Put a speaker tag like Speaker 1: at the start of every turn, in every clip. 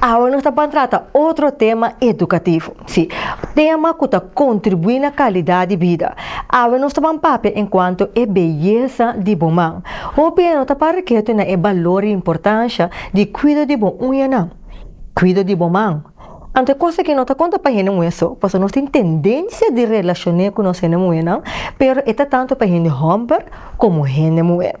Speaker 1: Awe nos ta ban trata otro tema edukativo, si, tema ku ta kontribuí na kalidat di bida. Awe nos ta ban papia en kuanto e beyesa di bo man. Hopi hende no ta para ketu na e balor i importansha di kuido di bo uñanan, kuido di bo man. Anto e kos aki no ta konta pa hende muhé so, pasobra nos tin tendensia di relashon'é ku nos hende muhénan, pero e ta tantu pa hende hòmber komo hende muhé.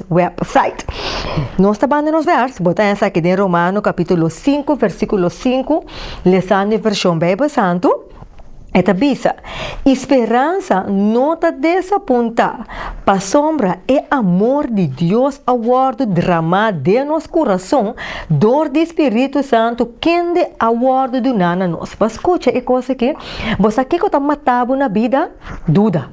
Speaker 1: website. Nos ta banda nos vers, bo ta haya sa ki den Romano capítulo 5 versículo 5, lesando e versión Bijbel Santu, e ta bisa, I speransa no ta desapuntá, pasobra e amor di Dios a wòrdu dramá den nos kurason dor di Spiritu Santu kende a wòrdu duná na nos. Bo a skucha e kos akí? Bo sa kiko ta matá bo na bida? Duda.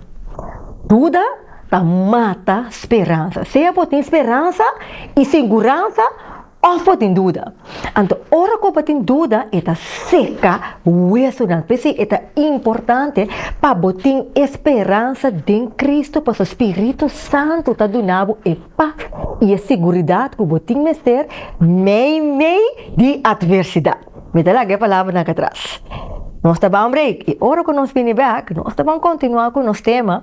Speaker 1: Duda. Ta mata speransa. Sea bo tin speransa i seguransa òf bo tin duda. Anto ora ku bo tin duda e ta seka wesunan. P'esei e ta importante pa bo tin e speransa den Cristo, pasobra e Spiritu Santu ta duna bo e pas i e seguridat ku bo tin mester meimei di atversidat. Mi ta laga e palabranan aki atras. Nos ta ban break i ora ku nos bini bèk nos ta ban kontinuá ku nos tema.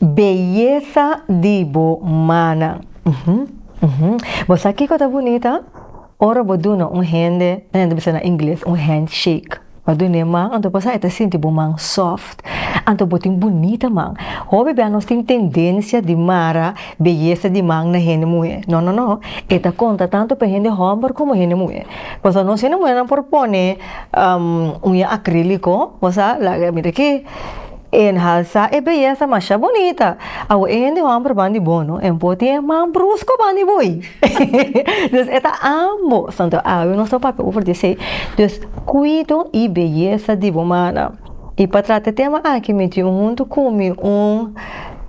Speaker 1: Beyesa di bo manan. Bo sa kiko ta bunita? Ora bo duna un hende, nan ta bisa na ingles, un handshake. Bo duna e man, anto pasá e ta sinti bo man soft. Anto bo tin bunita man. Hopi bia nos tin tendensia di mara beyesa di man na hende muhé. No, no, no. E ta konta tantu pa hende hòmber komo hende muhé. Pasobra nos hende muhénan por pone uña akríliko, bo sa, laga e mira akí. Enhalsa e beyesa masha bunita. Awo e hende homber ban di bo no, en por tin e man brusko ban di bo ey. Dus e ta ambo. Santo awi nos lo papia over di esey. Dus cuido y beyesa di bo mannan. Y pa trata e tema aki mi tin un hunto cu mi un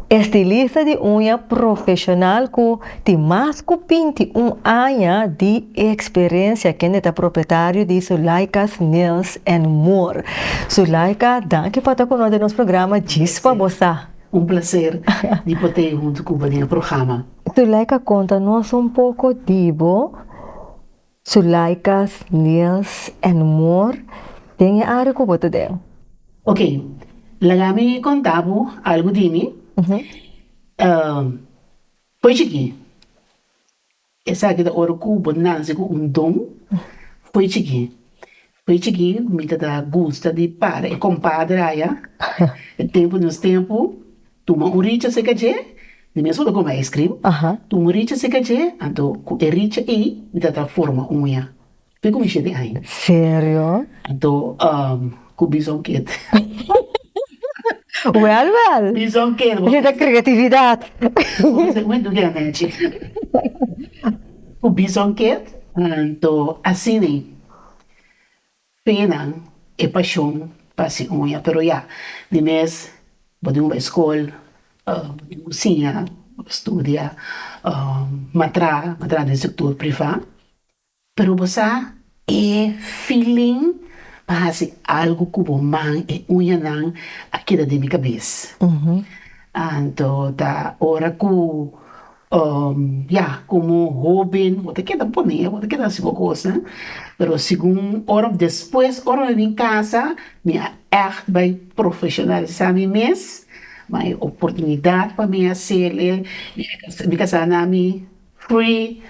Speaker 1: estilista di uña profesional cu. Tin mas ku binti un aña di eksperensia kende ta propietario di Zuleika's Nails and More. Zuleika, danki pa ta ku nos den nos programa Djis pa bo sa. Un plaser
Speaker 2: di por ta ei huntu ku bo den e programa. Zuleika, konta
Speaker 1: nos un poko di bo. Zuleika's Nails and More, den e área ku bo ta den. Ok,
Speaker 2: laga mi konta bo algu di mi. Pochi ki esaki ta ora ku bo nase ku un don? Pochi ki? Pochi ki mi ta ta gusta di para e kompadre aya e tempu nos tempu tuma un richa seka dje di mes for kome ice cream tuma un richa seka dje anto ku e richa ei mi ta ta forma uña. Te ku mi shete ai. Serio?
Speaker 1: Anto
Speaker 2: ku bison keda.
Speaker 1: Wel wel. Bison keda. Esa ta
Speaker 2: kreatividat.
Speaker 1: Bo me
Speaker 2: duke anochi. Ku bison keda. Anto asina fenan e pashon pa hasi uña pero ya di mes bo tin ku bai skol bo tin ku siña bo studia matra matra den sektur privá. Pero bo sa, e feeling pa hasi algu ku bo man i uñanan a keda den mi kabes. Anto ta ora ku, ya, komo hóben bo ta keda pone, bo ta keda hasi bo kosnan, pero segun ora òf despues, ora mi bin kasa, mi a ègt bai profeshonalisá mi mes, bai oportunidat pa mi hasel'e, mi kasa na mi P'e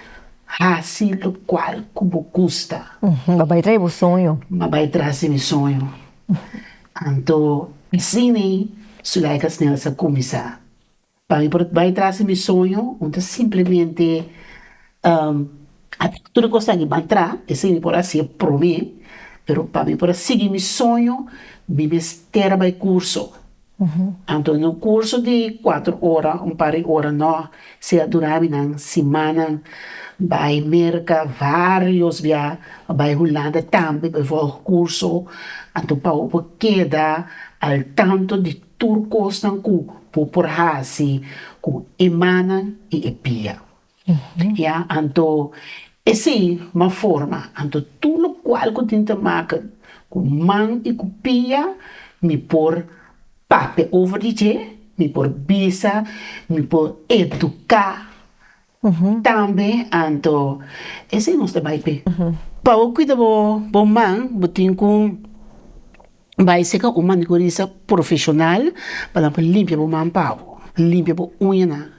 Speaker 2: hasi locual cu bo gusta. Bo bay trae bo
Speaker 1: soño. Bo bay traci mi
Speaker 2: soño. Anto asina i Zuleika Snel sa cuminsa. Pa mi por bay traci mi soño un ta simplemente haci tur e cos aki ban tra, esey mi por haci'e prome, pero pa mi por a sigui mi soño mi mester bay curso. Anto den un kurso di kuater ora un par di ora nò, sea durá mi nan simana bai Merka varios bia, bai Hulanda tambe bai vòlg kurso, anto pa bo keda al tanto di tur kosnan ku bo por hasi ku e manan i e bianan. Ya, anto e si ma forma, anto tur lokual ku tin ta maka ku man i ku pia, mi por papia over di dje, mi por bisa, mi por eduká, tambe anto e si nos ta bai p'e. Pa bo kuida bo man, bo tin ku. Bai seca un manicurista profesional pa nan por limpia bo man pa bo, limpia bo uñanan,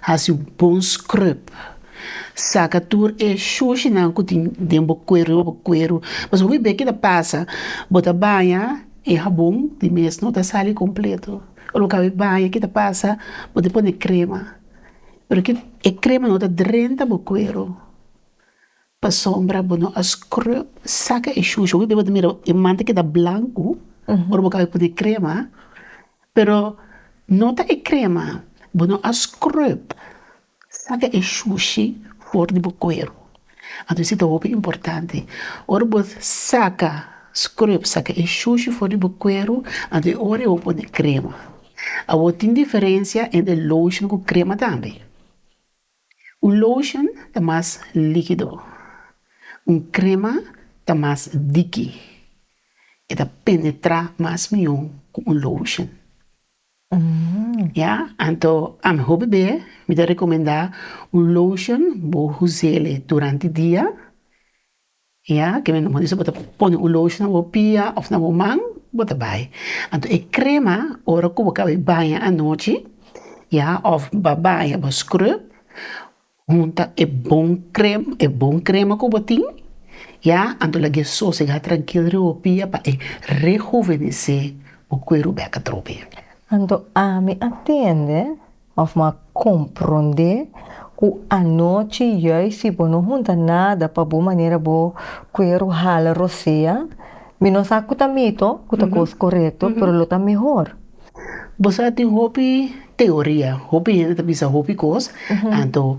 Speaker 2: haci bon scrub, saca tur e shushinan cu tin den bo cuer riba bo cuero, pasobra hopi bey keda pasa bo ta baña e habon di mes no ta sali completo ora bo caba e baña kita pasa bo ta pone crema pero e crema no ta drenta bo cuero. Pasobra bo no a scrub saca e shushu. Bo a mira e man ta keda blancu ora bo caba e pone e crema, pero no ta e crema, bo no a scrub saca e shushi for di bo cuero. Anto si ta hopi importante. Ora bo saca, scrub saca e shushi for di bo cuero, anto e ora bo pone crema. Awor tin diferencia entre lotion cu crema tambe. Un lotion ta mas likido. Un krema ta mas diki. E ta penetrá mas mihó ku un lotion. Ya, anto a mihó bebé mi ta rekomendá un lotion bo huz'é durante dia Ya, kende lo mester bo ta pone un lotion na bo pia of na bo man, bo ta bai, anto e crema ora cu bo caba baña anochi, ya, of ba baña bo scrub, hunta e bon crema, e bon crema cu bo tin, ya, anto lagu'e sosega trankil riba bo pia pa e rehuvenece bo cuero beka trobe. Anto ami
Speaker 1: a tende. Of m'a komprondé ku anochi juis si bo no hunta nada pa bo manera bo kueru hala rosea, mi no sa ku ta mito, ku ta kos korekto, pero lo ta mehor. Bo sa
Speaker 2: tin hopi teoria, hopi hende ta bisa hopi kos, anto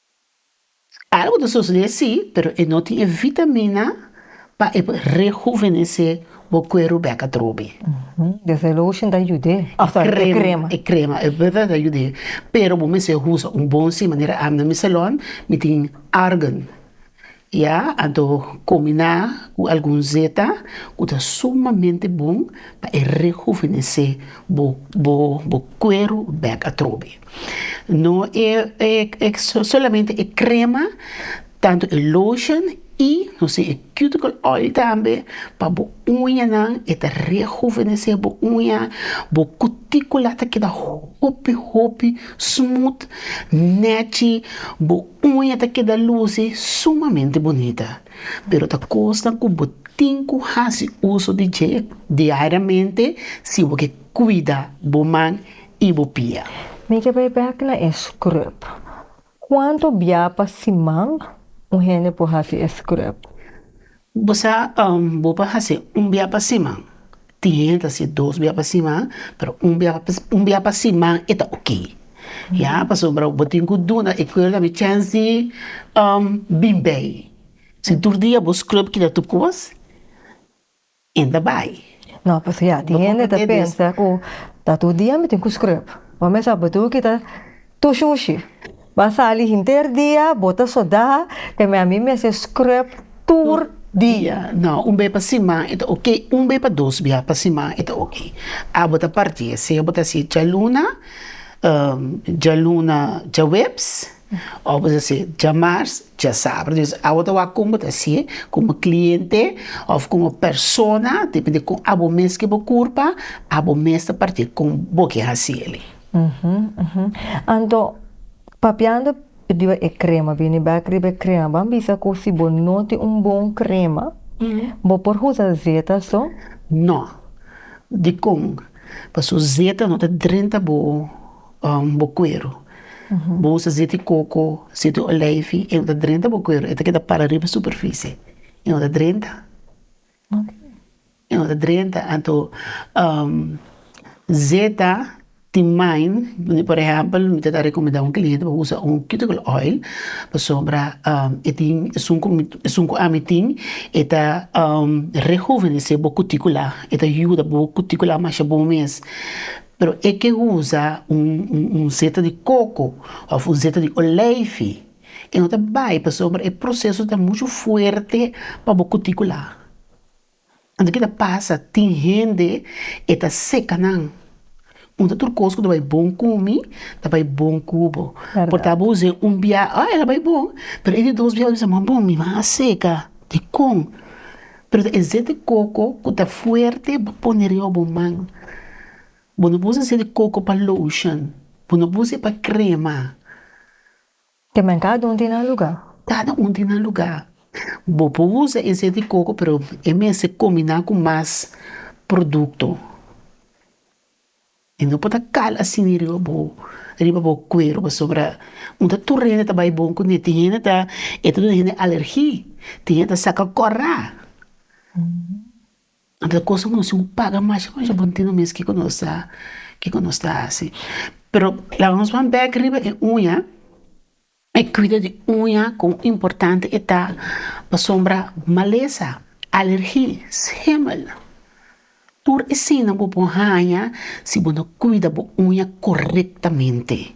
Speaker 2: Algu ta sosodé sí, pero e no tin e vitamina pa e por rehuvenesé bo kueru bek atrobe. Desde
Speaker 1: lotion ta yud'é, e krema. E krema, e
Speaker 2: verdad ta yud'é, pero bo mester usa un bon sí, manera ami na mi salon mi tin argan. Ya a do kuminá ku algun zeta ku ta sumamente bon pa e rehuvenesé bo bo bo kueru bèk atrobe. No e e e solamente e krema, tantu e lotion i no sin e cuticle oil tambe pa bo uñanan e ta rehuvenesé bo uña, bo kutíkula ta keda hopi hopi smooth, nèchi, bo Uña ta keda luci sumamente bunita, pero ta cosnan cu bo tin cu haci uso di dje diariamente si bo ke cuida bo man y bo pia. Mi ke bay bek
Speaker 1: na e scrub. Cuanto bia pa siman un hende por haci e scrub? Bo
Speaker 2: sa bo por hasi un bia pa siman, tin hende ta hasi dos bia pa siman, pero un bia un bia pa siman e ta oke, ya pasobra bo tin ku duna e kuerda mi chèns di bin bai, si tur dia bo scrub keda tur kos e ta bai, No pues ya
Speaker 1: tin hende ta pensa ku ta tur dia mi tin ku scrub, bo mester bo tur kita. Tu shushi ba sali hinter dia bo ta soda te me a mi mester scrub tur dia. No, un be pa
Speaker 2: siman e ta oke, un be pa dos bia pa siman e ta oke. A bo ta parti e sea bo ta si djaluna, djaluna djaweps of bo ta si djamars djasabra dus a bo ta wak con bo ta si con bo cliente of con bo persona depende con a bo mes ke bo curpa a bo mes ta parti con bo ke hasi eli. Anto,
Speaker 1: papiando riba e krema, bini bèk riba e krema, ban bisa ku si bo no tin un bon krema, bo por usa zeta so? No.
Speaker 2: Dikon? Paso zeta no ta drenta bo bo kueru. Bo usa zeti koko, zeti oleifi, e no ta drenta bo kueru, e ta keda para riba superfisie, e no ta drenta. Drenta anto zeta di main por ehempel mi ta rekomendá un kliente pa usa un cuticle oil pasobra e tin esun ku mi esun ku ami tin e ta rehuvenesé bo kutikula e ta yuda bo kutikula masha bon mes pero e ke uza un zeta di koko òf un zeta di oleifi. I no ta bai pasobra e proseso ta muchu fuerte pa bo kutikula. Anto ki ta pasa? Tin hende e ta seka nan. Un ta tur kos ku ta bai bon ku mi, ta bai bon ku bo. Por ta bo use un bia, oh e ta bai bon, pero e di dos bia e bisa, bon mi ban a seka. Dikon? Pero ta e seti koko ku ta fuerte pa pone riba bo man. Bo no por use seti koko pa lotion, bo no por use pa krema.
Speaker 1: Te men cada un tin nan lugar. Cada un tin nan
Speaker 2: lugar. Bo por usa e seti coco pero e mester combina cu mas producto. E no por ta cal asina riba bo riba bo cuero pasobra un ta tur hende ta bay bon cune tin hende ta e ta duna hende alergi tin hende ta saca cora. Anto e kos ku nos tin ku paga masha masha bon tin mes kiko nos ta kiko nos ta hasi pero laga nos ban bek riba e uña e kuida di uña kon importante e ta pasobra malesa, alergi, hemel tur esina bo por haña si bo no kuida bo uña korektamente.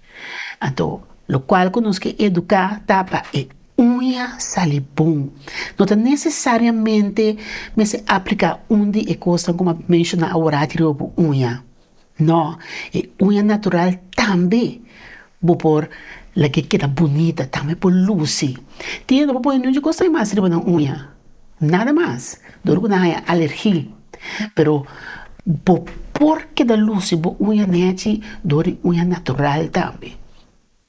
Speaker 2: Anto, lokual ku nos ke eduká ta pa e uña sali bon. No ta nesesariamente mester apliká un di e kosnan ku mi a menshoná awor aki riba bo uña. Nò, e uña natural tambe bo por laga e keda bunita, tambe por lusi. Tin yende ku a pone dje kos ai mas riba nan uña. Nada mas, dor ku nan haña alergi. Pero bo por keda lusi bo uña nechi dor di uña natural tambe.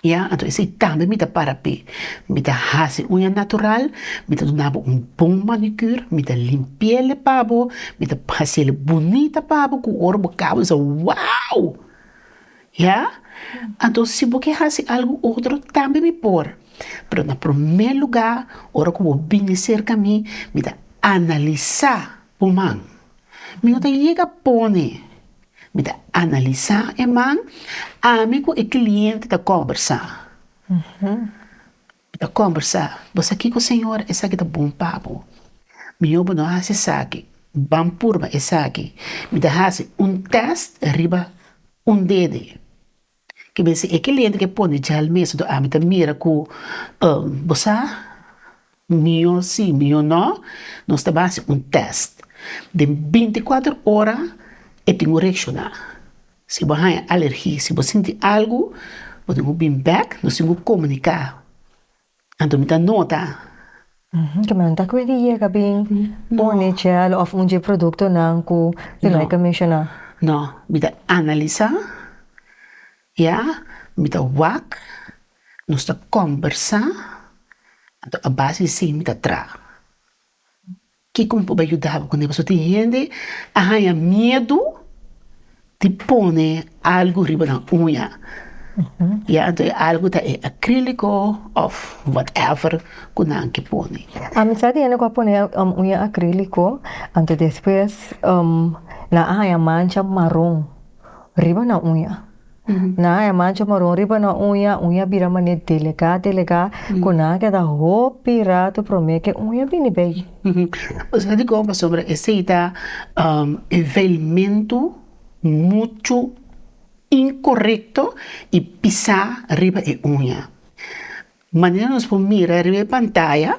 Speaker 2: Ya, anto esei tambe mi ta para p'e. Mi ta hasi uña natural, mi ta duna bo un bon manicure, mi ta limpiele pa bo, mi ta hasiele bunita pa bo ku ora bo kaba bisa, wow! Ya, anto si bo ke hasi algu otro, tambe mi por. Pero na promé lugá, ora ku bo bini serka mi, mi ta analisá bo man. Mi no ta yega pone, mi ta analisá e man, ami ku e kliente ta kòmbersá. Mi ta kombersá, Bo sa kiko, Señor? Esaki ta bon pa bo. Mihó bo no hasi esaki. Ban purba esaki. Mi ta hasi un tèst riba un dede. Ke mester e ki lente ke pone djal mes do ami ta mira ku bo sa mihó sí, mihó no. Nos ta ban hasi un tèst. Den binti kuater ora e tin un reakshoná. Si bo haña alergi, si bo sinti algu, bo tin ku bin bèk nos, tin ku komuniká. Anto mi ta nota. Ke
Speaker 1: men ta kwin di yega bin pone gel òf un dje produktonan ku Zulaika menshoná? No, mi ta
Speaker 2: analisá, ya, mi ta wak, nos ta kòmbersá, anto a base di sin mi ta traha. Kiko mi por bai yuda bo kune pasobra tin hende a haña miedu di pone algu riba nan uña ya anto e algu ta e acrilico of what ever ku nan ke pone. Amisai tin hende ku a
Speaker 1: pone uña acrilico anto despues nan a haña mancha maron riba nan uña. Nan a mancha maron riba nan uña, uña bira manera delicá, delicá, cu nan a keda hopi rato promé cu e uña bini bay. Nos a
Speaker 2: dico aba sobre esey ta e velmento mucho incorrecto y pisá riba e uña. Manera nos por mira riba e pantaya,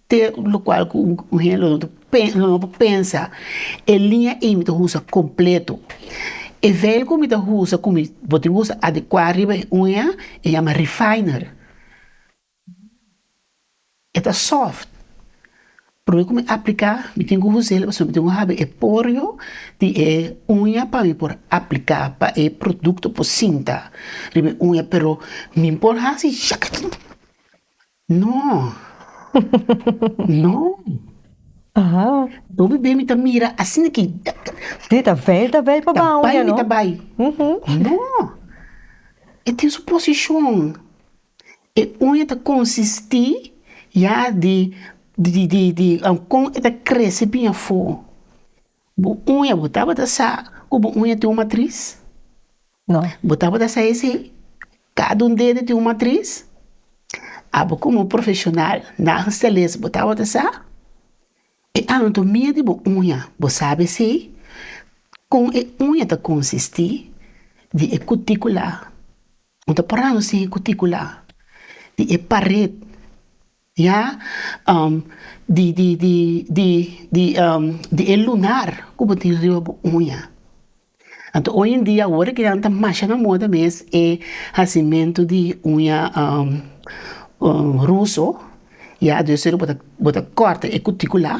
Speaker 2: Te lo cual cu un hende lo no por pensa e línea ey mi ta usa completo e vel cu mi ta usa cu mi bo tin usa adecua riba e uña e yama refiner e ta soft puru cu mi aplica mi tin cu usel pasobra mi tin cu habi e porio di e uña pa mi por aplica pa e producto por sinta riba e uña pero mi por hasi shakata. No. No. Ahaa.
Speaker 1: Obi bem mi
Speaker 2: ta mira asina ki. Di ta vel
Speaker 1: ta vel pa bai un dia no. Ta bai mi ta bai. Uhum.
Speaker 2: No. E tin su posishon. E uña ta konsisti ya di di di di kon e ta krese biña afo. Bu uña, bo tabata sa ku bo uña tin un matris? No.
Speaker 1: Bo tabata sa e
Speaker 2: sin? Kada un dedo tin un matris. Abo komo un profeshonal, nagelstylist, bo tabata sa e anatomia di bo uña? Bo sabe e sin? Kon e uña ta konsistí di e kutíkula, bo ta parando sin e kutíkula, di e paret Ya di di di di di di e lunar ku bo tin riba bo uña. Anto oy en dia awor ke nan ta masha na moda mes e hasimentu di uña ruso, ya dor sero bo ta kòrta e kutikula.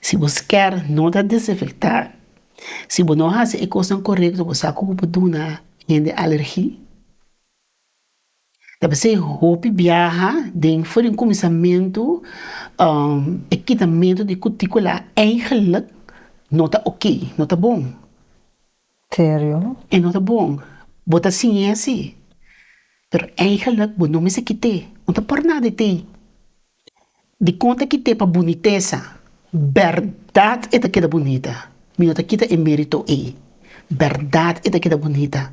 Speaker 2: Si bo sker no ta desinfecta, si bo no hasi e cosnan corecto bo sa cu bo por duna hende alergi, ta p'e sey hopi biaha den for den cuminsamentu e kitamento di cuticula eigenlic no ta ok, no ta bon.
Speaker 1: serio. E no ta
Speaker 2: bon. Bo ta siñe así. Pero eigenlik bo no mester kit'é. No ta por nada e té. Dikon ta kit'é pa bunitesa? Bèrdat e ta keda bunita. Mi no ta kita e mérito ei. Bèrdat e ta keda bunita.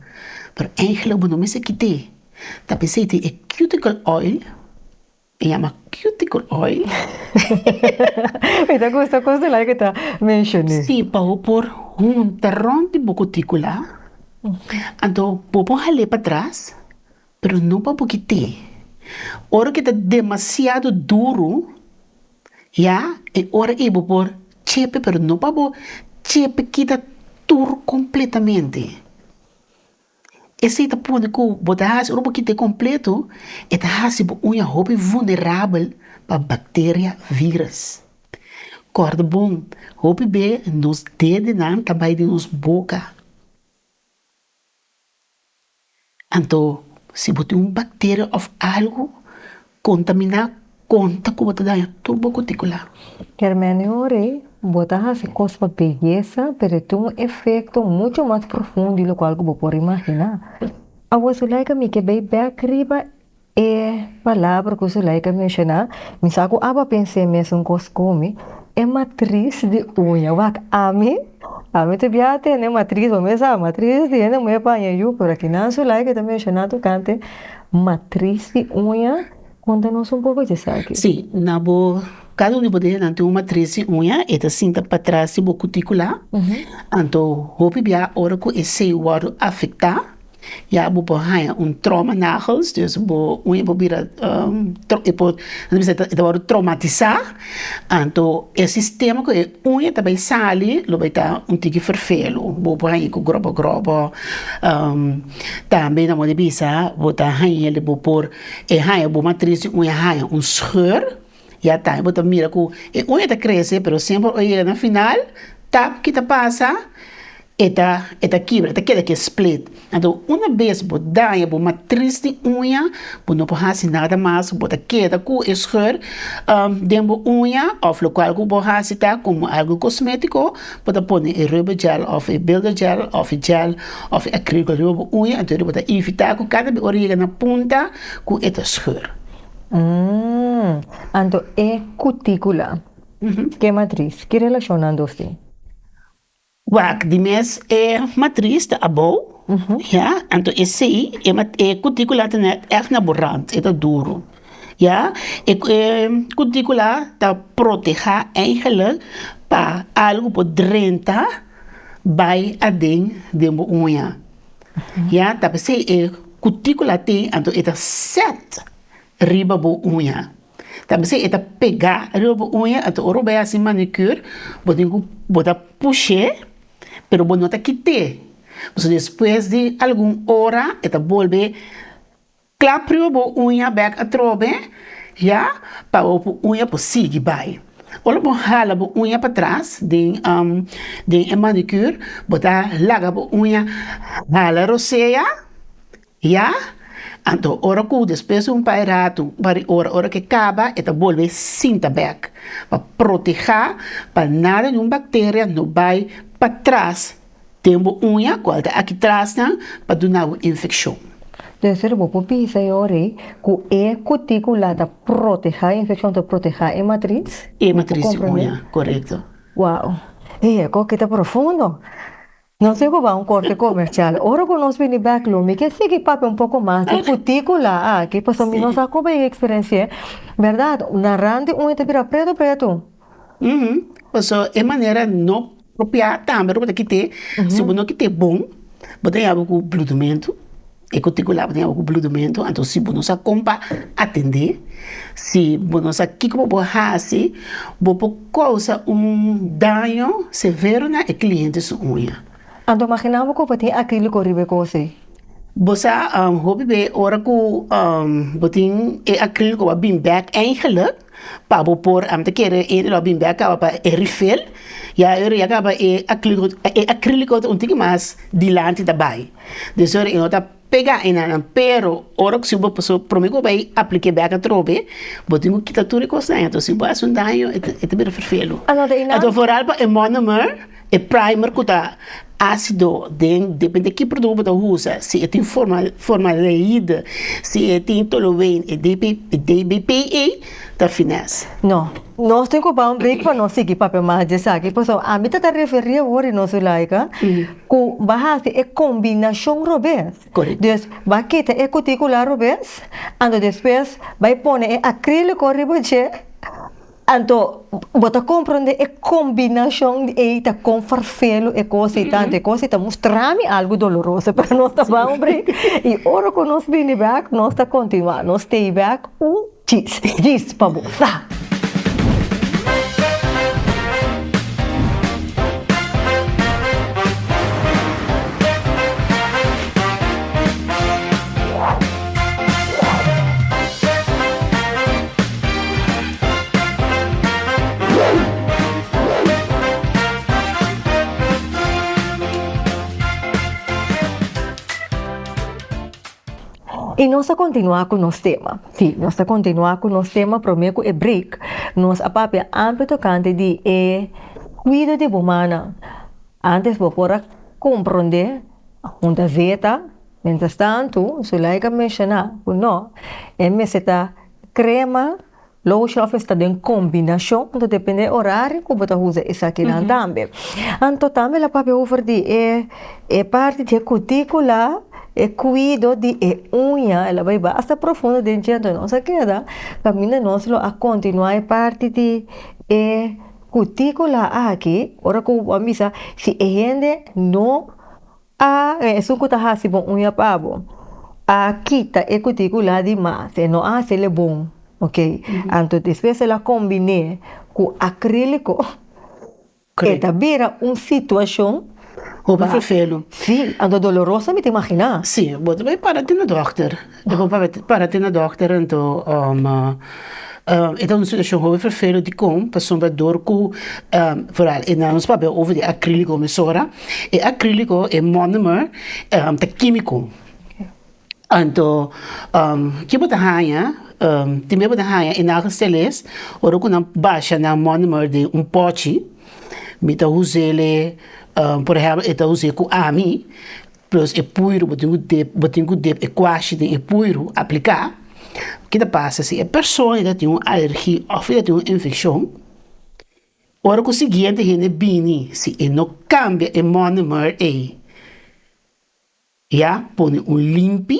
Speaker 2: Pero eigenlik bo no mester kit'é. Ta pens'é tin e cuticle oil. E yama cuticle oil. Mi
Speaker 1: ta gusta cos delay cu ta mencione. Si, pa bo por
Speaker 2: hunta rond di bo cuticula, anto bo por hale patras, pero no pa bokite. Ora cu ta demasiado duro, ya, e ora ei bo por chepe, pero no pa bo chepe kita tur completamente. Esei ta pone ku bo ta hasi ora bo kint'é kompletu, e ta hasi bo uña hopi vulnerabel pa bakteria, vírus. Kòrda bon, hopi be nos dedenan ta bai di nos boka. Anto si bo tin un bakteria òf algu, Kontaminá konta ku bo ta daña tur bo kutikulá. Kermene ora
Speaker 1: ei bo ta hasi kos pa beyesa, pero e tin un efekto muchu mas profundo di lokual ku bo por imaginá. Awa su laika mi ke bai bèk riba e palabra ku su laika menshoná, mi sa ku aba pens'é mesun kos ku mi, e matris di uña. Wak, ami? Ami ta bia tene matris, bo mes sa matris di hende muhé paña yu, pero aki nan su laika ta menshoná tokante Matris di uña, konta nos un poko di esaki. Sí, na bo,
Speaker 2: kada un di bo dehenan tin un matris di uña, e ta sinta patras di bo kutíkula, anto hopi biaha ora ku esei wòrdu afektá ya bo por haña un tròma nagels, dus bo uña por bira e por nan bisa e ta wòrdu tromatisá, anto e sistema ku e uña ta bai sali lo bai ta un tiki ferfelu, bo por haña ku gròbò gròbò. Tambe nan mode bisa bo ta haña el di bo por e haña bo matris di uña haña un scheur, ya tambe bo ta mira ku e uña ta krese pero semper ora e yega na final tap kita pasa e ta e ta kibra e ta keda ke split, anto una bes bo daña bo matris di uña bo no por hasi nada mas bo ta keda ku e scheur den bo uña òf lokual ku bo hasi ta komo algu kosmetiko. Bo ta pone e rubber gel of e builder gel of e gel of e acrylico riba bo uña anto di bo ta evita cu cada be ora yega na punta cu e ta scheur. Umm.
Speaker 1: Anto e cuticula ke matriz, ki relacion nan dos tin?
Speaker 2: Wak, di mes e matriz ta abou, ya, anto esey e cuticula ta net echt na bo rand, e ta duru. Ya, e kutríkula ta protehá eingelik pa algu por drenta bai aden den bo uña. Ya, ta p'esei e kutríkula tin, anto e ta sèt riba bo uña. Ta p'esei e ta pegá riba bo uña, anto ora bo bai hasi manicure, bo tin ku bota push'é, pero bo no ta kit'é. Pasobra despues di algun ora e ta bolbe Claprio bo uña bek atrobe ya pa bo bo uña por sigui bai. Ora bo hala bo uña patras den den e manicure bo ta laga bo uña hala rosea ya anto ora cu despues di un pai rato bari ora ora ke caba e ta bolbe sinta bek pa proteha pa nada di un bacteria no bai patras Ten bo uña cual ta aki trasnan pa duna bo infeccion. Tercero bo
Speaker 1: por bisa e ori cu e cuticula ta proteha e infeccion ta proteha e matriz. E matriz di uña,
Speaker 2: corecto. Wow!
Speaker 1: E eco keda profundo! Nos tin cu bay un corte comercial. Ora cu nos bini bek lo, mi ke sigui papia un poco mas di cuticula aki, pasobra mi no sa cu bay experenci'e. Berdad, narandi uña ta bira preto preto?
Speaker 2: pasobra e manera no propia tambe bo ta kite si bo no kite bon bo ta yama ku bludumentu e kutiku la bo ta yama ku bludumentu anto si bo no sa kon pa atende si bo no sa kiko bo por hasi bo por kousa un daño severo na e kliente su uña. Anto magina bo
Speaker 1: ku bo tin akilko riba e kos ei? Bo sa
Speaker 2: hopi be ora ku bo tin e akilko a bin bek eingelik. Pa bo por ante kere e reloj bin be a kaba pa e rifel ya ora ya kaba e acrilico un tiki mas di lanti ta bai des ora e no ta pega e nanan pero ora si bo paso prome ke bo bai aplica bek atrobe bo tin kita tur e cos na entor si bo haci un daño e ta bira firfel lo ato foral pa e monomer. E primer ku ta asido den depende ki produto bo ta usa si e tin formaldeide si e tin tolueen e DBPA ta fines. No, nos
Speaker 1: tin ku bai un brik pa nos sigui papia mas di esaki pasobra ami ta ta referi awor no Zulaika ku bai hasi e kombinashon robes des bai
Speaker 2: kita
Speaker 1: e kutikula robes ando despues bai pone e akriliko riba dje. Anto bo ta komprondé e kombinashon di ei ta kon farfelu e kos ei ta. Anto e kos ei ta mustra mi algu doloroso pero nos ta ban un break i ora ku nos bini bèk nos ta kontinuá. Nos stay bèk un chis chis pa bo sa. I nos ta kontinuá ku nos tema. Sí, nos ta kontinuá ku nos tema promé ku e break. Nos a papia amper tokante di e kuido di bo manan. Antes bo por a komprondé, a hunta zeta. Mientras tanto, Zulaika a menciona cu no, e mester ta crema, lotion of mester ta den combinacion, anto depende e horario cu bo ta uza esakinan tambe. Anto tambe lo papia over di e e parti di e cuticula, e cuido di e uña, e lo bay bay hasta profundo den dje, anto nos a keda caminda nos lo a continua e parti di e cuticula aki, ora cu bo a bisa si e hende no. A den esun ku ta hasi bo uña pa bo, a kita e kuti ku la di mas, e no a hasi el e bon, ok. Anto despues el a kombiné ku akríliko, e ta bira
Speaker 2: un
Speaker 1: situashon, si,
Speaker 2: anto
Speaker 1: doloroso mi ta imaginá. Si, bo ta bai para
Speaker 2: den e dòkter. Ta bon pa para te na dòkter anto e ta un situashon hopi ferfelu dikon pasobra dor ku e na nos papia over di akriliko emisora e akriliko e mònomer ta kímiko anto ke bo ta haña tin ke bo ta haña e nagel steles ora ku nan basha nan mònomer den un pòchi mi ta us'e por ehempel e ta us'e ku ami. Plus e puiru bo tin ku dep bo tin ku dep e kuashi den e puiru apliká ke ta pasa si e persona i ta tin un alergi òf i ta tin un infekshon ora ku siguiente hende bini si e no kambia e mònemer ei ya pone un limpi.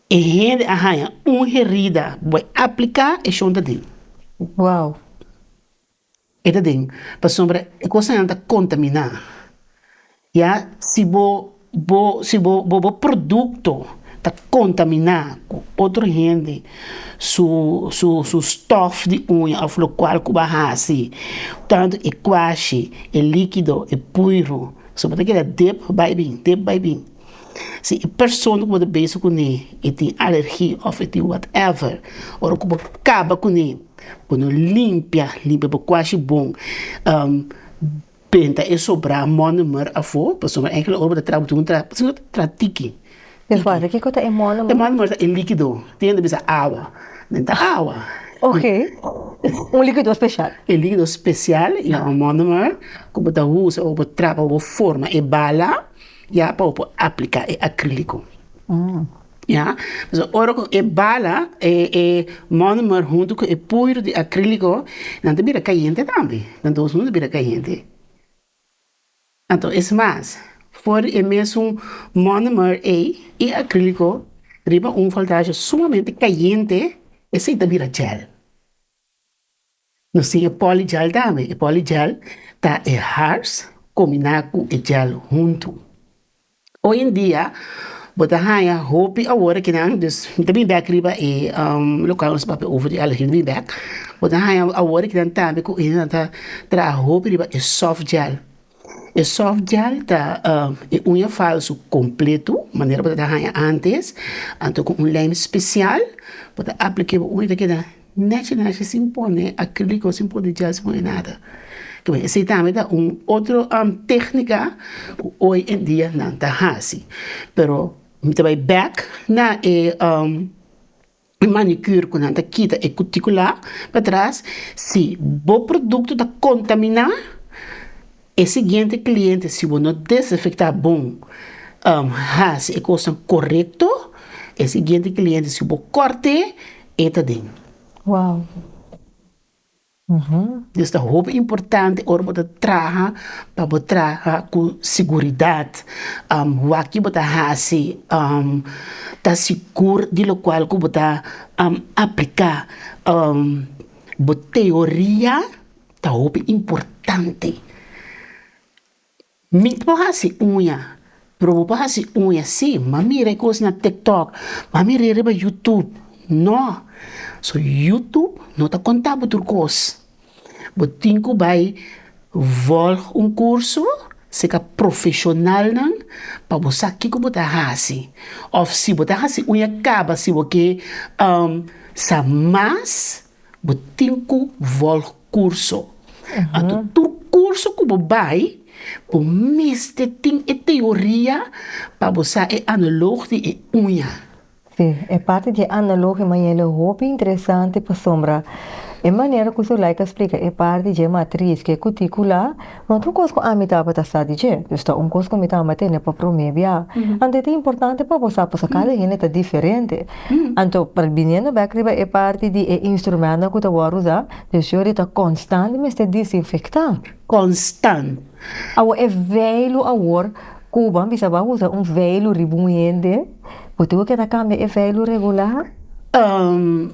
Speaker 2: E hende a haña un herida. Bo a apliká e shon ta den. Wow! E ta den, pasobra e kosanan ta kontaminá. Ya si bo bo si bo bo bo produkto ta kontaminá ku otro hende su su su stòf di uña òf lokual ku bo a hasi, tantu e kuashi, e líkido, e puiru, pasobra bo ta keda dep bai bin, dep bai bin. Si e persona ku bo ta besa kuné e tin alergi òf e tin whatever, ora ku bo kaba kuné bo no limpia, limpia bo kuashi bon penta e sobra mònemer afó, pasobra na ènkele ora ku bo ta traha bo tin ku traha tiki,
Speaker 1: kiko ta e mònemer? E mònemer ta e likido,
Speaker 2: tin hende bisa awa, nen ta awa,
Speaker 1: un likido spesial, e likido spesial
Speaker 2: i a mònemer ku bo ta usa ora ku bo traha bo forma e bala. Ya pa bo por aplica e acrilico ya pasobra ora cu e bala e monomer hunto con e puidro di acrilico nan ta bira cayente tambe nan dos hunto ta bira cayente anto es mas for di e mesun monomer ey y acrilico riba un voltaie sumamente cayente esey ta bira gel. Nos tin e poly gel tambe, e poly gel ta e hars combina cu e gel hunto, hoy en dia bo ta haya hopi awor kinan dus mi ta bini back riba e local nos papia over di alergie mi ta bini back, bo ta haya awor kinan tambe cu nan ta traha hopi riba e soft gel. E soft gel ta e uña falsu kompletu, manera bo ta haña antes, anto ku un lèm spesial bo ta aplik'é bo uña ta keda nèchi nèchi sin pone akríliko sin pone gel sin pone nada, esei tambe ta un otro tèknika ku hoy en dia nan ta hasi, pero mi ta bai bèk na e. e manicure cu nan ta kita e cuticula patras, si bo producto ta contamina e siguiente cliente si bo no desinfecta bon haci e cosnan corecto e siguiente cliente si bo cort'e e ta den. Nos ta hopi importante ora bo ta traha pa bo traha ku siguridad wak yu bo ta hasi ta sigur di lokual ku bo ta aplika bo teoria ta hopi importante. Mi no hasi uña, pero bo por hasi uña. Sí, m'a mira e cos na tiktok, m'a mira e riba youtube, no. So youtube no ta conta bo tur cos, bo tin cu bay volg un curso seca profesionalnan pa bo sa kico bo ta hasi, of si bo ta hasi uña caba si bo ke sa mas Bo tin cu volg curso. Anto tur curso cu bo bay, bo mester tin e teoria pa bo sa e analog di e uña.
Speaker 1: Sí, e parti di e analog di Mayele
Speaker 2: hopi
Speaker 1: interesante pasobra e manera cu Zulaika splica e parti di e matriz cu e cuticula Not un kos ku ami tabata sa di dje, dus ta un kos ku mi tamba tene pa promé biá. Anto e ta importante pa bo sa pasobra kada hende ta diferente. Anto, biniendo bèk riba e parti di e instrumentnan ku ta wòrdu usá, dus yori ta konstant mester disinfektá. Konstant!
Speaker 2: Awo e
Speaker 1: veilu awor ku bo a bisa bo a usa un veilu riba un hende, bo tudu ke ta kambia e veilu regular? Ehm,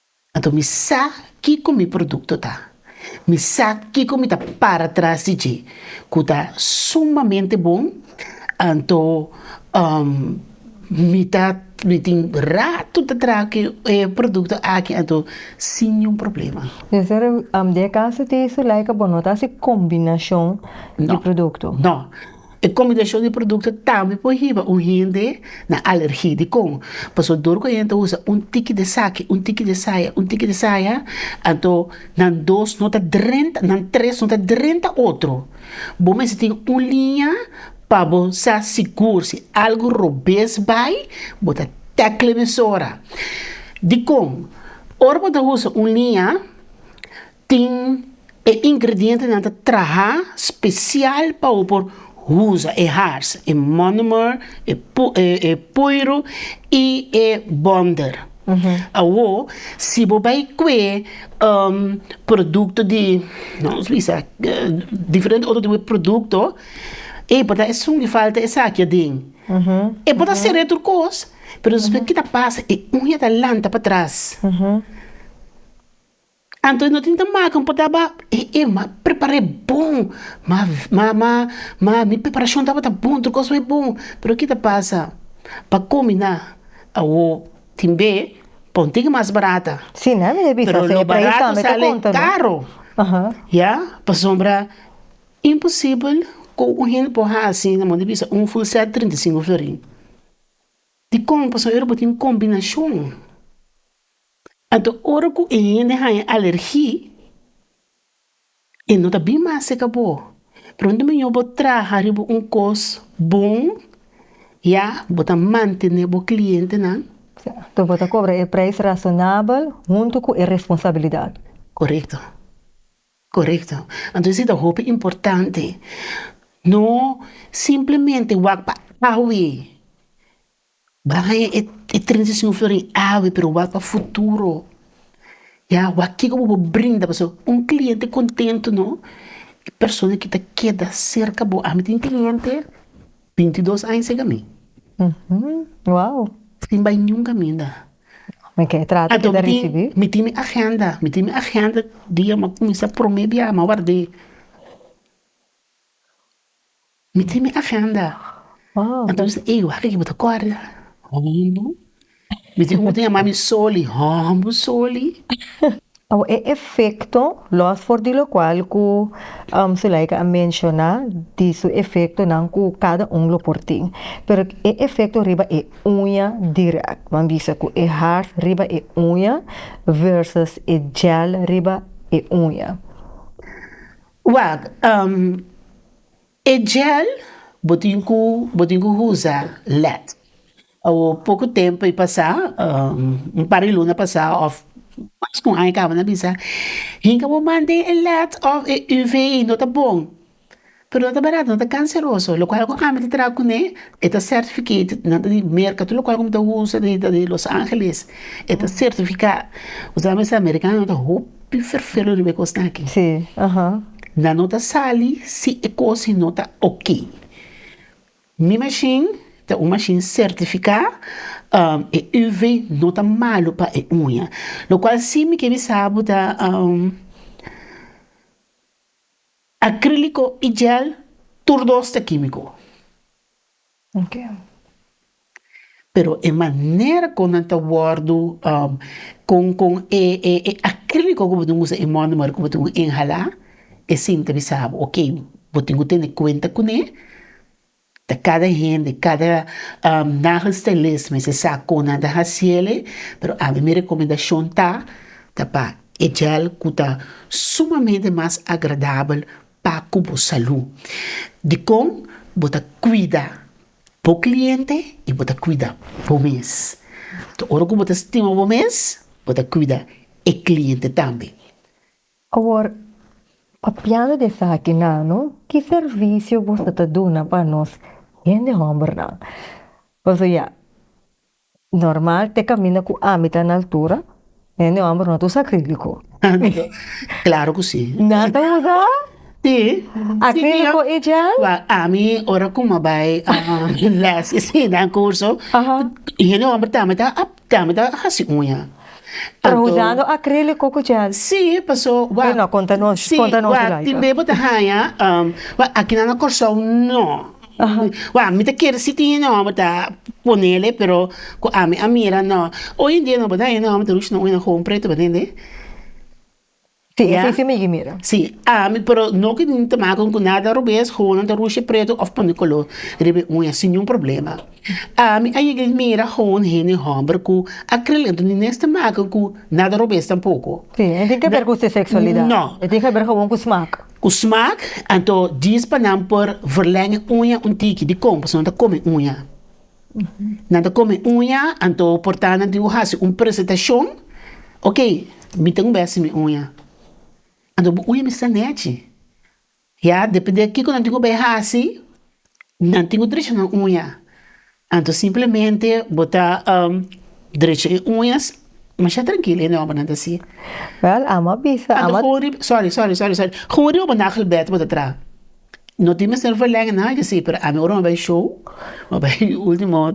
Speaker 2: Anto mi sa kiko mi produkto ta. Mi sa kiko mi ta para tras di dje ku ta sumamente bon, anto mi ta mi tin ratu ta traha e produkto aki anto sin niun problema. Sester, di
Speaker 1: e kaso te su laika bo no ta hasi kombinashon di produkto? No. E
Speaker 2: kombinashon di produkto tambe por hiba un hende na alergi. Dikon? Pasobra dor ku e hende ta usa un tiki di esaki, un tiki di esaya, un tiki di esaya, anto nan dos no ta drenta, nan tres no ta drenta otro. Bo mester tin un liña pa bo sa sigur si algu robes bai, bo ta tèkl emisora. Dikon? Ora bo ta usa un liña, Tin e ingredientenan ta traha special pa u por usa e hars, e monomer, e poiro y e bonder. Awo si bo bay cue producto di diferente otro tipo di producto ey por ta esun di falta esaki aden e por ta sere tur cos pero despues kit a pasa e uña ta lanta patras. Anto no tin ta maka un potaba ma prepara e bon ma ma ma mi preparashon tabata bon tur kos wey bon pero kita pasa pa komi na awo tin be pa un tiki mas barata pero lo
Speaker 1: barato sale
Speaker 2: karo ya pasobra imposibel ku un hende por hasi na munda bisa un ful set trinta i sinku florin dikon pasobra ey ora bo tin kombinashon. Anto ora ku e hende haña alergi e no ta bin mas seka bo. Pronto mió bo traha riba un kos bon ya bo ta mantené bo klientenan. Anto bo ta kobra
Speaker 1: e preis rasonabel huntu ku e responsabilidat. Korekto,
Speaker 2: korekto. Anto esei ta hopi importante. No simplemente wak pa awe Bra haña e e transision florin awe pero wak pa futuro ya wak kiko bo por brinda pasobra un kliente kontentu no e persona ke ta keda serka bo ami tin kliente binti dos aña seg ami
Speaker 1: sin bai
Speaker 2: ningún kaminda anto
Speaker 1: mi tin mi agenda
Speaker 2: mi tin mi agenda dia mi a kuminsá prome biaha mi a ward'é. Mi tin mi agenda. Entonces
Speaker 1: ey wak aki
Speaker 2: bo ta kòrda hòmber, mi tin un moto yama mi soli, hòmber soli. Awa
Speaker 1: e efekto, lòs for di lokual ku Sulaika a menshoná di su efektonan ku kada un lo por tin, pero e efekto riba e uña dirèk, bo a bisa ku e hart riba e uña versus e gel riba e uña.
Speaker 2: Wak, E gel bo tin ku bo tin ku usa lèt. Awo poko tempu a pasá, un par di luna pasá òf mas ku un aña kaba nan bisa, hinka bo man den e lèt òf e UV no ta bon, pero no ta barato, no ta kanseroso, lokual ku ami ta traha kuné e ta certificated, nan ta di merka tur lokual ku mi ta usa di Los Angeles e ta sertifiká, kusami ta ser amerikano ta hoop. Tin ferfero riba e kosnan aki. Sí, aha.
Speaker 1: Nan no
Speaker 2: ta sali si e kosin no ta ok. Mi mashin ta un mashin sertifiká, e UV no ta malu pa e uña. Lokual si mi ke bisa bo ta akríliko i jel tur dos ta kímiko.
Speaker 1: Miguel.
Speaker 2: Pero e manera kon nan ta wòrdu kon kon e e e akríliko ku bo tin usa e mònomer ku bo tin inhalá e sin ta bisa bo ok bo tin ku tene kuenta kuné ta kada hende kada nagelstylist mi se sa kon nan ta hasiele pero ami mi rekomendashon ta ta pa e gel ku ta sumamente mas agradabel Pa cu bo salú. Dicon bo ta cuida bo cliente y bo ta cuida bo mes. Toa ora cu bo ta stima bo mes, bo ta cuida e cliente tambe. Awor,
Speaker 1: papiando di esaki nano, ki servicio boso ta duna pa nos hende hombernan? Pasobra ya, Normal te caminda cu ami ta na altura hende homber no ta usa acrilico.
Speaker 2: Claro cu si. Na ta usa acrilico
Speaker 1: y gel? Wak ami ora
Speaker 2: cu mi a bay les dan curso hende
Speaker 1: homber
Speaker 2: tambe ta haci uña. Pero usando
Speaker 1: acrilico cu gel? Si paso
Speaker 2: wak tin
Speaker 1: bebe
Speaker 2: bo ta
Speaker 1: haya
Speaker 2: aki nan na Corsou no. Wak mi ta kere si tin e nomber ta ponele pero cu ami a mira no hoy en dia no bada e nomber ta rush no una joven preto bada ende si
Speaker 1: ami pero
Speaker 2: no ke nin ta maku cu nada robes joven ta rush preto of pone color riba e uña sin nayin problema ami a yega mira joven hende homber cu a crea lento ni nes ta maku cu nada robes tampoco
Speaker 1: no. Cu smaak,
Speaker 2: anto dies pa nan por verleng e uña un tiki, dicon? Pasobra nan ta come uña. Nan ta come uña, anto por ta nan tin cu haci un presentacion, Ok, mi tin un bes sin mi uña. Anto bo uña mester nechi. Ya, depende kico nan tin cu bay haci, nan tin cu drecha nan uña. Anto simplemente bo ta drecha e uñas, masha trankil e nòmbernan ta si. Wèl, amo a
Speaker 1: bisa, amo a. Anto hopi, sòri,
Speaker 2: sòri,
Speaker 1: sòri, sòri,
Speaker 2: hopi bo nagelbèd bo ta traha. No tin mester verlènge nada di así, pero ami ora mi a bai show, mi a bai último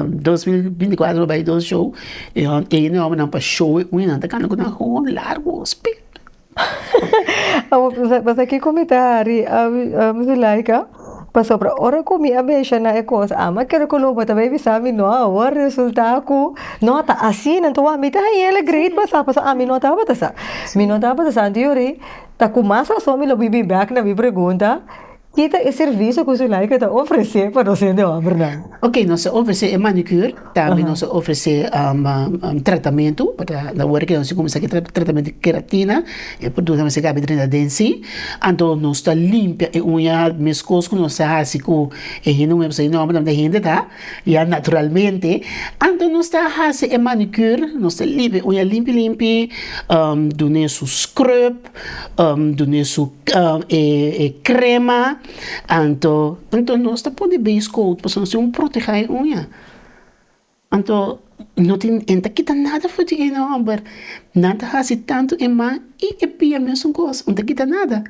Speaker 2: dos mil binti i kuater mi a bai dos show, e nòmbernan pa show e uñanan ta kanda ku nan hopi largu, hopi. Abo pensa
Speaker 1: pensa kiko mi ta hari ami zulaika pasobra ora ku mi a mesha na e kos ami a kere ku lo bata bai bisa mi no awor resulta ku no ta asina enton wak mi ta hañela great pa sa pasobra ami no tabata sa mi no tabata sa anto yori ta ku mas rason mi lo bibi bek na mi pregunta. Ki ta e servisio ku Zulaika ta ofresé pa nos hende hòmbernan? Oke, nos ta ofresé
Speaker 2: e manikür, tambe nos ta ofresé tratamentu, awor e keda si kuminsá ku e tratamentu keratina, e produto nan a mester kabi dren di aden sí, anto nos ta limpia e uña meskos ku nos ta hasi ku e hende nuevo, esei nòmber nan di hende ta ya naturalmente, anto nos ta hasi e manikür, nos ta limpia e uña limpi limpi, dun'é su scrub. dune su e crema anto anto nos ta pone base coat pasobra nos tin un proteha e uña anto no tin e ta kita nada for di e no hombber nan ta hasi tanto e man y e pia mesun cos no ta kita nada.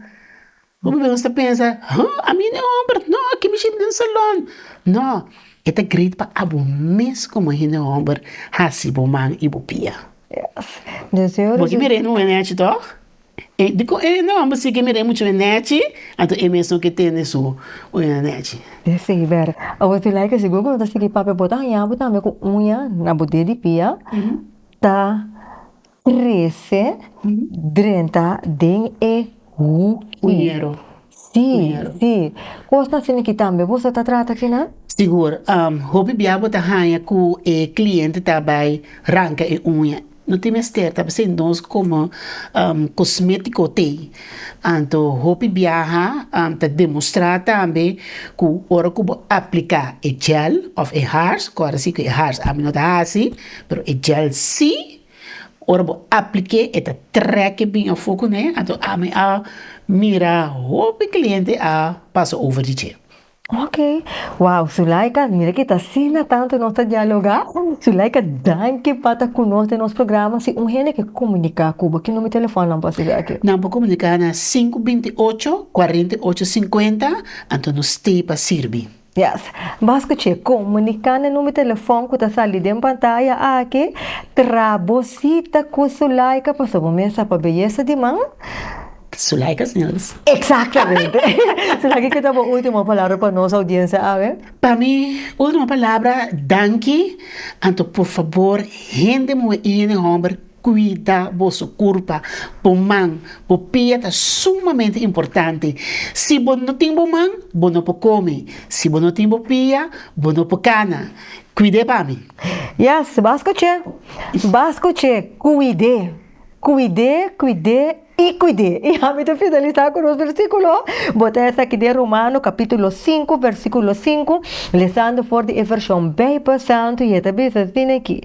Speaker 2: Hopi bos ta pensa, Ho, ami no e homber, no, aki mi ship den salon. No, e ta great pa abo mes komo hende homber hasi bo man i bo pia. Bo ke mir'é nu e nèchi tò? Dikon e hende homber si ke mir'é muchu e nèchi, anto e mes no ke tende su uña nèchi. Sí, bèrdad.
Speaker 1: Abo ti laika sigur ku no ta sigui papia, bo ta haña abo tambe ku uña na bo ded di pia ta. Trese drenta den e huki.
Speaker 2: Si,
Speaker 1: si. Kosnan asina aki tambe boso ta trata kinan? Sigur.
Speaker 2: Hopi bia bo ta haña ku e kliente ta bai ranka e uña. No tin mester ta presente nos komo kosmétiko tei. Anto hopi biaha ta demostrá tambe ku ora ku bo apliká e gel òf e hars, kòrda si ku e hars ami no ta hasi, pero e gel si, Ora bo apliké e ta trèk'e bin afó kuné anto ami a mira hopi kliente a pasa over di dje. Ok,
Speaker 1: wow Zulaika mira kita asina tantu nos ta dialogá. Zulaika danki pa ta ku nos den nos programa, si un hende ke komuniká ku bo ki number telefòn nan por siga aki? Nan por komuniká na
Speaker 2: sinku binti ocho, kuarenta i ocho, sinkuenta, anto nos stei pa sirbi. Yes. Bas
Speaker 1: scuche, comunica na number telefon cu ta sali den pantaya aki, tra bo cita cu Sulaika paso bo mes sa pa beyesa di man. Sulaika
Speaker 2: Snels. Exactamente.
Speaker 1: Sulaika ki ta bo ultimo palabra pa nos audiencia awe? Pa mi
Speaker 2: ultimo palabra, danki, anto por fabor hende muhe y hende homber Kuida boso kurpa, bo man, bo pia ta sumamente importante. Si bo no tin bo man, bo no por kome. Si bo no tin bo pia, bo no por kana. Kuid'é pa mi. Yes, b'as
Speaker 1: kuch'é, b'as kuch'é, kuid'é, kuid'é, kuid'é. I cuid'é, i ami ta finalisá cu nos versículo. Bo ta esaki den Romano capítulo sinku, versículo sinku, lesando for di e version Bijbel Santu, i e ta bisa asina aki,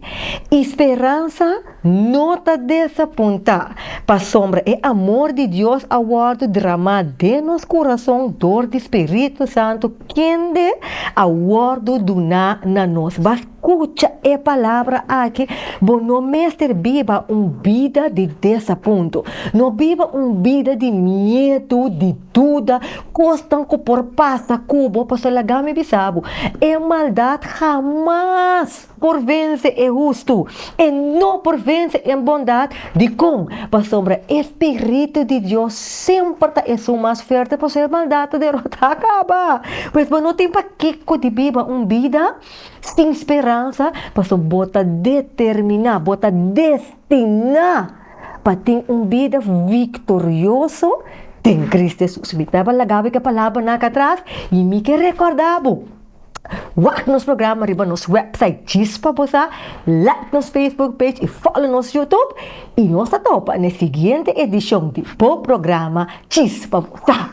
Speaker 1: I speransa no ta desapuntá, pasobra e amor di Dios a wòrdu dramá den nos kurason dor di Spiritu Santu kende a wòrdu duná na nos. Kucha e palabra aki, Bo no mester biba un bida di desapuntu. No biba un bida di miedu, di duda, kosnan ku por pasa ku bo. Pasobra laga mi bisa bo, e maldat hamas por vense e hustu, e no por vense e bondat. Dikon? Pasobra e spiritu di Dios semper ta esun mas fuerte, por eso e maldat ta derotá kaba. Pues bo no tin pakiko di biba un bida. Sin speransa, pasobra bo ta determiná, bo ta destiná pa tin un bida viktorioso den Kristu Hesus. Mi ta tabata laga bo e palabranan aki atras i mi ke rekòrda bo, wak nos programa riba nos wèpsait djis pa bo sa, like nos facebook page i fòlo nos youtube. I nos ta topa na e siguiente edishon di bo programa djis pa bo sa.